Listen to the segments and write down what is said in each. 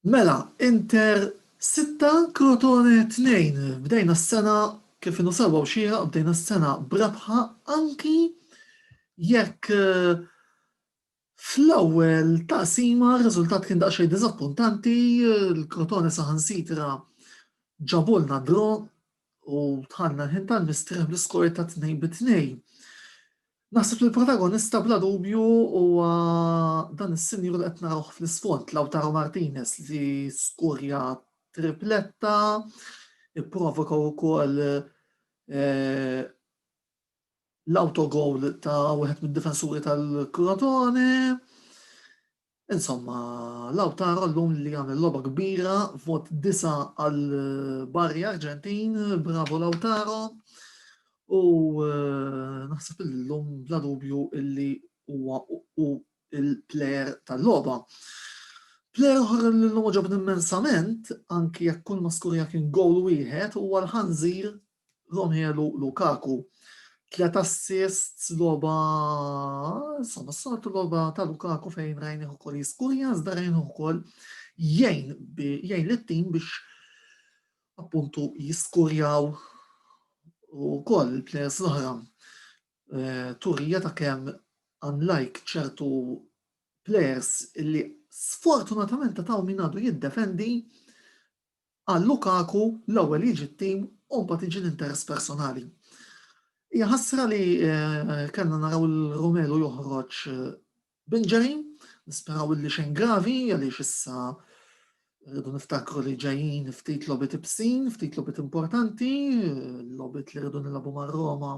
Mela, Inter sitta, Crotone tnejn. Bdejna s-sena kif inhu sewwa u xieraq, bdejna s-sena b'rebħa anki jekk eh, fl-ewwel taqsima r-riżultat kien daqsxejn diżappuntanti, l-Crotone saħansitra ġabulna dro u tħanna ħin tal-mistrieħ bl-iskor ta' tnejn bi tnejn. Naħseb li l-protagonista bla dubju huwa dan is-sinjur li qed narawh fl-isfond Lautaro Martinez li skurja tripletta, ipprovoka wkoll eh, l-autogol ta' wieħed mid-difensuri tal-Crotone. Insomma, Lautaro llum li għamel logħba kbira, vot disa' għal Barri Arġentin, bravo Lautaro. U eh, naħseb illum bla dubju illi huwa u il-player tal-logħba. Player oħra li l-lum ġobni immensament, anki jekk kull maskurja kien gowl wieħed, huwa l-ħanżir Romelu Lukaku, tliet assists logħba insomma s-soltu logħba ta' Lukaku fejn rajnih ukoll jiskurja, iżda rajnih ukoll jgħin jgħin lit-tim biex appuntu jiskurjaw u koll il-players l-oħra eh, turija ta' kemm unlike ċertu players li sfortunatament ta' taw min għadu jiddefendi Għal Lukaku, l-ewwel jiġi t-tim u mbagħad jiġi l-interess personali. Hija ħasra li kellna naraw lil Romelu joħroġ b'injury, nisperaw illi xejn gravi għaliex issa rridu niftakru li ġejjin ftit logħbiet ibsin, ftit logħbiet importanti, logħbiet li rridu nilagħbu mar-Roma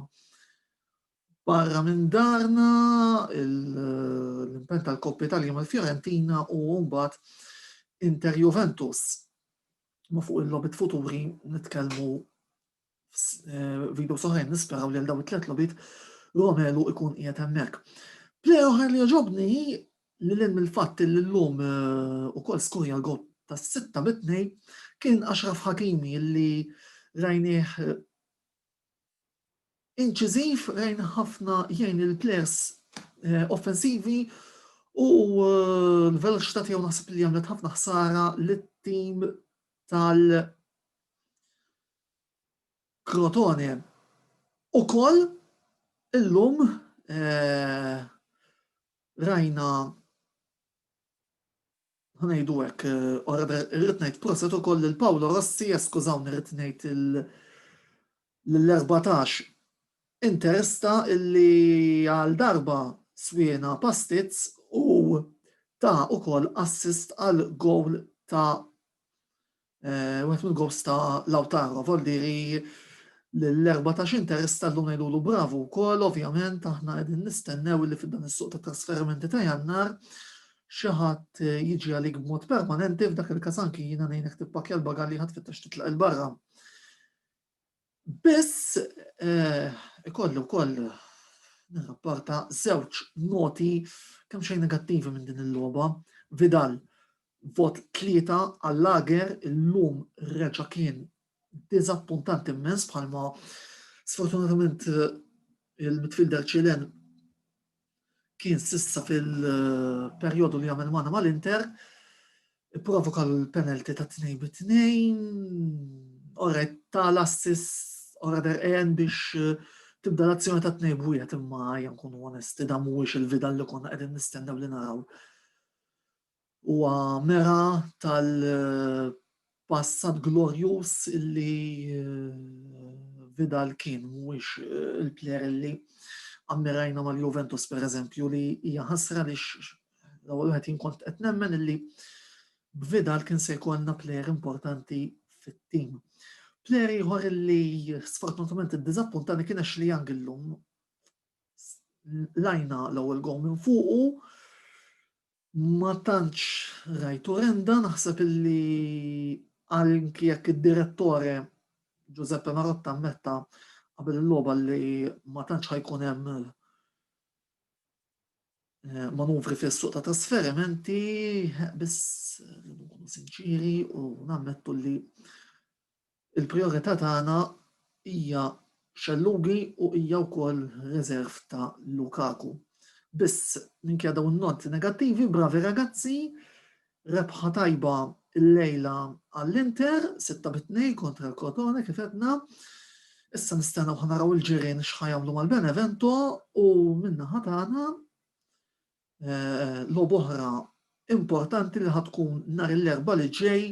Barra minn darna, l-impenn tal-Coppa Italia mal-Fiorentina u mbagħad Inter Juventus. Ma fuq il-lobit futuri nitkellmu eh, video soħrajn nisperaw li l-daw it-tlet lobit Romelu ikun qiegħed hemmhekk. Play oħra li ġobni li l mill-fatt li l-lum eh, u kol skurja għot ta' sitta mitnej kien Ashraf Hakimi li rajnieh eh, inċiżiv lejn ħafna jgħin il-plejers offensivi u l-veloċità tiegħu naħseb li għamlet ħafna ħsara lit-tim tal Krotone. Ukoll illum rajna Ħa ngħidu hekk, ora irrid ngħid proset ukoll lil Paolo Rossi, eskużawni rrid ngħid lill-erbatax Interista illi għal darba swiena pastizz u ta ukoll assist għall-gowl ta' Wieħed mill-groups ta' Lautaro vol dire lill-erbatax interess tal-lum ngħidulu bravu wkoll, ovvjament aħna qegħdin nistennew li f'dan is-suq tat-trasferimenti ta' Jannar xi ħadd jiġi għalik b'mod permanenti, f'dak il-każ anki jiena ngħinek tippakkja l-bagalli ħa tfittex titlaq 'il barra. Biss ikolli wkoll nirrapporta żewġ noti kemm xejn negattivi minn din il-logħba. Vidal vot tlieta għall-Lager illum reġa' kien diżappuntant immens bħalma sfortunatament il-midfielder Ċilen kien s'issa fil-perjodu li għamel magħna mal-Inter, provoka l-penalty ta' 2 bi 2, ora ta' l-assis ora der en biex eh, tibda l-azzjoni ta' 2 b'wieħed imma jgħan nkunu onesti da mhuwiex il-vida li konna qegħdin nistennew li naraw. Huwa mera tal-passat glorjuż li Vidal kien, mhuwiex il-plejer li ammirajna mal-Juventus pereżempju li hija ħasra li l-ewwel wieħed jien kont qed nemmen illi b'Vidal kien se jkollna plejer importanti fit-tim. Plejer ieħor li sfortunatament iddiżappuntani kien Ashley Young illum lajna l-ewwel gow minn fuqu Ma tantx rajt Orenda, naħseb illi anki jekk id-direttore Giuseppe Marotta ammetta qabel il-logħba li ma tantx ħa jkun hemm eh, manuvri fis-suq ta' trasferimenti, eh, biss eh, nkunu sinċiri u nammettu li Il-prijorità tagħna hija Scellugi u hija wkoll reserv ta' Lukaku. Biss minkejja dawn in-noti negattivi, bravi ragazzi, rebħa tajba llejla għall-Inter, 6 bi 2 kontra l-Crotone kif għedna. Issa nistennew ħanaraw il-ġirien x'ħajamlu mal-Benevento u minna ħatana logħba oħra importanti li ħad tkun nhar l-erba' li ġej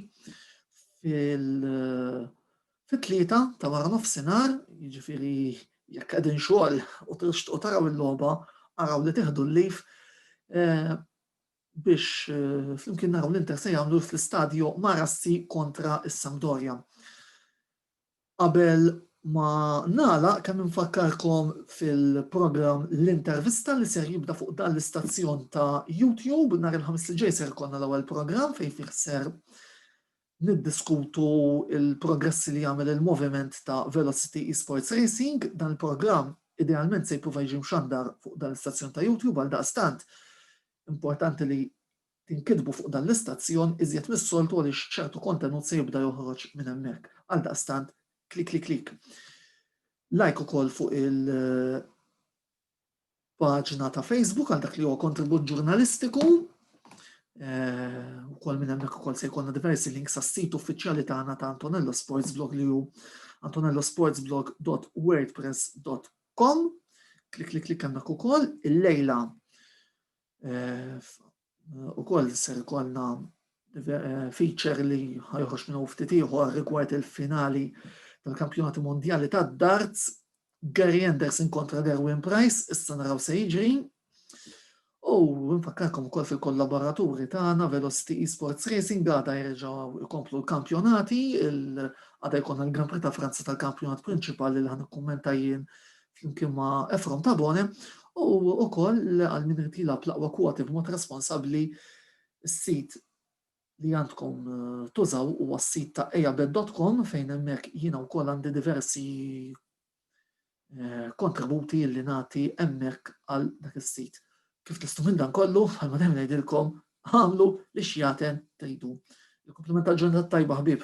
fit-tlieta ta' wara nofsinhar, jiġifieri jekk qegħdin xogħol u tixtqu taraw il-logħba, araw li tieħdu l-lif eh, biex eh, flimkien naraw l-Inter se jagħmlu fl-istadju Marassi kontra is-Sampdoria. Qabel ma nagħlaq, kemm infakkarkom fil-programm L-Intervista li ser jibda fuq dan l-istazzjon ta' YouTube. Nhar il-Ħamis li ġej ser ikollna l-ewwel programm fejn fih ser niddiskutu il-progressi li jagħmel il-moviment ta' Velocity Esports Racing. Dan il-programm idealment se jipprova jiġi mxandar fuq dan l-istazzjon ta' YouTube għal daqstant importanti li Tinkitbu fuq dan l-istazzjon iżjed mis-soltu għaliex ċertu kontenut se jibda joħroġ minn hemmhekk. Għaldaqstant, klikliklik. Like ukoll fuq il paġna ta' Facebook għal dak li huwa kontribut ġurnalistiku. Eh, ukoll minn hemmhekk ukoll se jkollna diversi links għas-sit uffiċjali tagħna ta' Antonello Sports Blog li hu antonellosportsblog.wordpress.com. Klik klik klik hemmhekk ukoll il-lejla U koll ser konna feature li ħajħox minn ftit ieħor rigward il-finali tal-kampjonati mondjali tad-darts Gary Anderson kontra Derwin Price, issa naraw se jiġri. U nfakkarkom ukoll fil-kollaboraturi tagħna Velocity Esports Racing għada jerġgħu jkomplu l-kampjonati, għada jkollna l-Grand Prix ta' Franza tal-kampjonat prinċipali li ħan ikkummenta jien flimkien ma' Efrom Tabone, u wkoll għal min irid jilgħab l-aqwa kwoti b'mod responsabbli, is-sit li għandkom tużaw huwa s-sit ta' eabet.com fejn hemmhekk jiena wkoll għandi diversi eh, kontributi li nagħti hemmhekk għal dak is-sit. Kif tistu minn dan kollu, bħalma dejjem ngħidilkom, għamlu li xjaten tgħidu. Il-komplimenta ġurnata tajba ħbib.